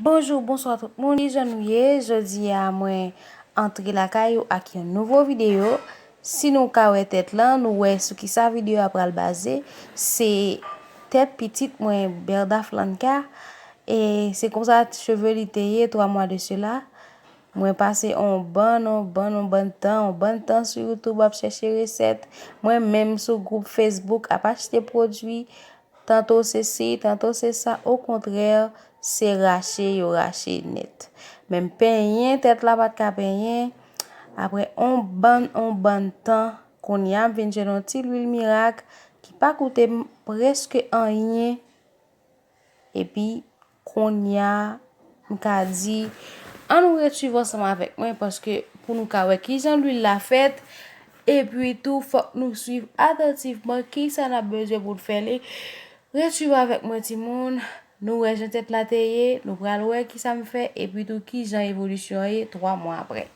Bonjour bonsoir tout moun kijan nou ye jodi a mwen antre lakay ou ak yon nouvo video Si nou ka wè tèt lan, nou wè sou kisa video a pral baze, se tèt pitit mwen Berda Flanka, e se konsa cheve li te ye 3 mwa de sela, mwen pase on bann, on bann, on bann tan, on bann tan sou youtube ap chèche resèt, mwen menm sou gwoup facebook ap achte pwodwi, Tanto se si, tanto se sa okontrè se rache yo rache nèt. Menm penyen tèt la pat ka penyen, aprè on bann on bann tan, konnya m vin jwenn on ti lwil mirak ki pa koute m prèske anyen epi Konnya m ka di an nou ret swiv ansanm avèk mwen paske pou nou ka wè kijan lwil la fèt epi tou fòk nou swiv atantivman kisa n ap bezwen pou n fè li ret swiv avèk mwen timoun nou wè jan tèt la te ye nou pral wè kisa m fè epi tou kijan evolisyon an ye 3 mwa aprè.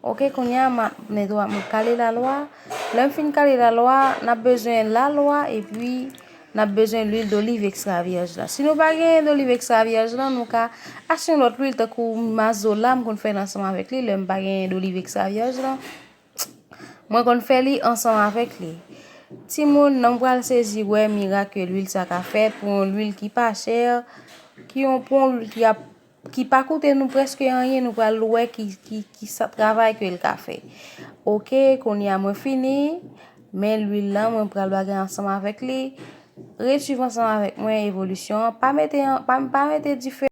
Ok kounya map men dwa map kale la lwa lèm fin kale la lwa nap bezwen la lwa epi nap bezwen lwil doliv ekstra vyèj la si nou pa gen doliv ekstra vyèj la nou ka achte yon lòt lwil tankou mazola m konn fè lansman avèk li lèm pa gen doliv ekstra vyèj la mwen konn fè li ansanm avèk li ti moun nan pral sezi wè mirak ke lwil sa ka fè pou yon lwil ki pa chè ki yon pon lwil ki ap Ki pa koute nou preske anyen nou pral wè ki ki sa travay ke l ka fè ok kounye a mwen fini men lwil lan mwen pral bagay ansanm avèk li ret swiv ansanm avèk mwen evolisyon an pa mete an pa mete dife.